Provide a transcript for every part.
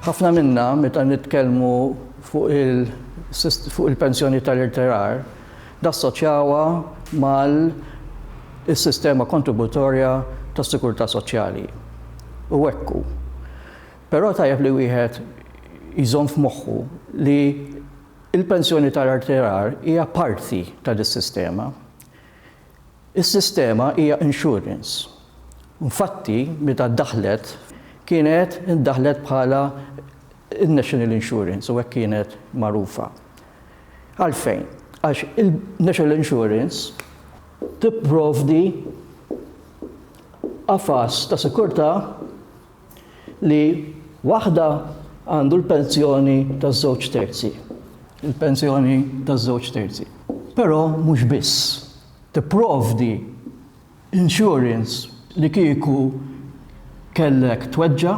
Ħafna minna meta nitkellmu fuq il-pensjoni tal-irtirar, dassoċjawha mal-sistema kontributorja tas-sigurtà soċjali. U hekk hu. Però tajjeb li wieħed jżomm f'moħħu li Il-pensjoni tar-rtirar hija parti ta' dis-sistema. Is-sistema hija insurance. Nfatti, meta daħlet, kienet daħlet bħala n-National Insurance u hekk kienet magħrufa. Għalfejn? Għax il-National Insurance tipprovdi qafas ta' sikurtà li waħda għandu l-pensjoni taż-żewġ terzi, il-pensjoni taż-żewġ terzi, però mhux biss, tipprovdi insurance li kieku kellek tweġġa'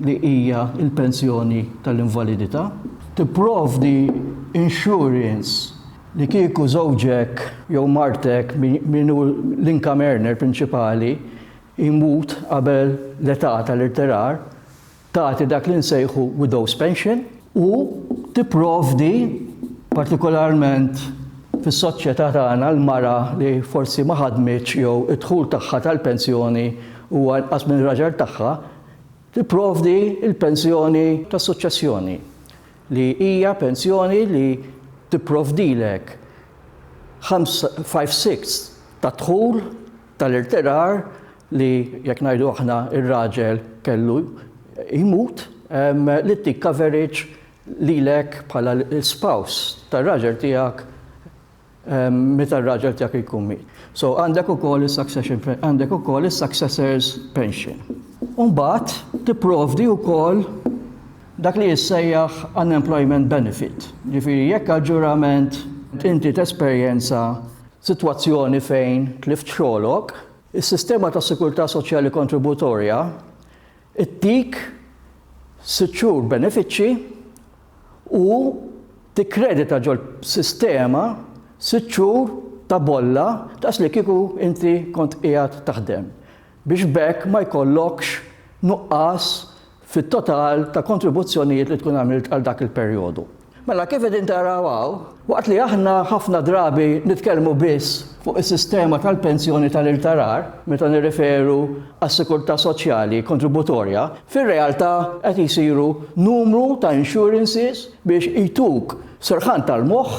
li hija l-pensjoni tal-invalidità, tipprovdi insurance li kieku żewġek jew martek min hu l-income earner prinċipali, imut qabel l-età tal-irtirar, tagħti dak li nsejħu widow's pension, u tipprovdi, partikolarment fis-soċjetà tagħna, l-mara li forsi ma ħadmitx jew id-dħul tagħha tal-pensjoni huwa inqas minn raġel tagħha, tipprovdi l-pensjoni tas-suċċessjoni, li hija pensjoni li tipprovdilek ħamsa, five-sixths tad-dħul tal-irtirar li jekk ngħidu aħna r-raġel kellu jmut li ttik coverage lilek bħala l-spouse tar-raġel tiegħek meta r-raġel tiegħek jkun miet. So għandek ukoll is-succession għandek ukoll is-successors pension. U mbagħad tipprovdi wkoll dak li jissejjaħ unemployment benefit. Ġifieri jekk aġġurament inti tesperjenza F'sitwazzjoni fejn tlift xogħlok, is-sistema tas-sikurtà soċjali kontributorja ttik sitt xhur benefiċċji u tikkredita ġol-sistema sitt xhur ta' bolla daqslikieku inti kont qiegħed taħdem. biex b'hekk ma jkollokx nuqqas fit-total ta' kontribuzzjonijiet li tkun għamilt għal dak il-perjodu. Mela kif qegħdin taraw hawn, waqt li aħna ħafna drabi nitkellmu biss fuq is-sistema tal-pensjoni tal-irtarar meta nirreferu għas-sikurtà soċjali kontributorja, fir-realtà qed isiru numru ta' insurances biex ituk serħan tal-moħħ,